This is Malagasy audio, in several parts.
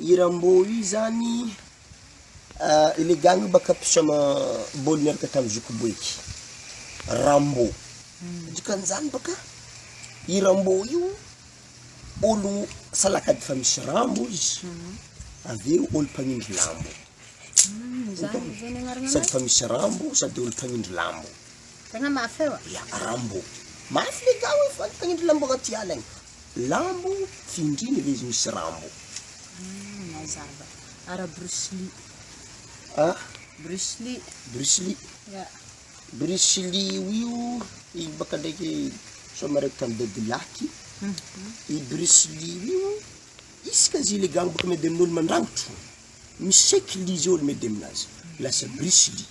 Io Rambo io zany le gang baka mpisoma bôly miaraka tam zoky boeky Rambo dikan'izany baka i Rambo io olo salakady fa misy Rambo izy avy eo olo mpanindry lambo sady fa misy Rambo sady olo mpanindry lambo Rambo mafy le gars io fa mpanindry lambo agnaty ala agny. Lambo, findrina ilay izy misy Rambo. Ah, mazava. Ara Bruce Lee. Ah? Bruce Lee. Bruce Lee. Yeah. Bruce Lee io, iny baka ndraiky sao miaraka tamin'ny dadilaky. Mhm. I Bruce Lee io, isika zy le gang baka miady amin'olo mandrangotro, miseky Lee zao olo miady aminazy. Lasa Bruce Lee.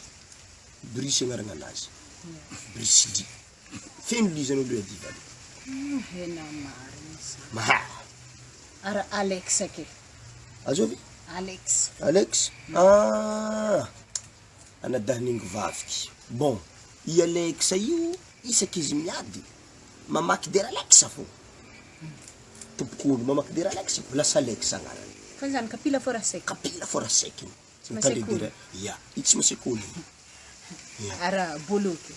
Bruce agnarana anazy. Bruce Lee. Feno lizany aloha edy vale. Hena marina izany. Maha. Ary Alex ake. Azo ve? Alex. Alex? Ah! Anadahin'ingo vaviky. Bon, i Alex io isaky izy miady mamaky der Alex fô. Tompok'ondry mamaky der Alex fô, lasa Alex agnarany. Fa izany kapila fô raha sec. Kapila fô raha sec. Tsy masekoly. Ya, i tsy masekoly io. Ya. Ara bolo ke.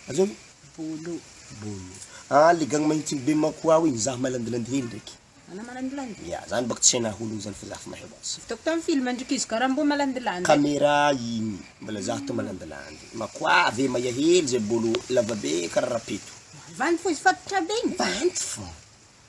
Aza io. Bolo. Bolo. Ah, le gang mahintigny be manko ao igny, zaho mahay landilandy hely ndraiky. Anao malandilandy? Ya, za baka tsy hainà olo igny zany fa za fa mahay ho azy. Hitako tam film ndry kizo karambo malandilandy. Camera igny, mbola za to malandilandy. Makoavy e, maia hely zay bolo, lava be kara rapeto. Vandy fo izy fatotra be igny? Vandy fo.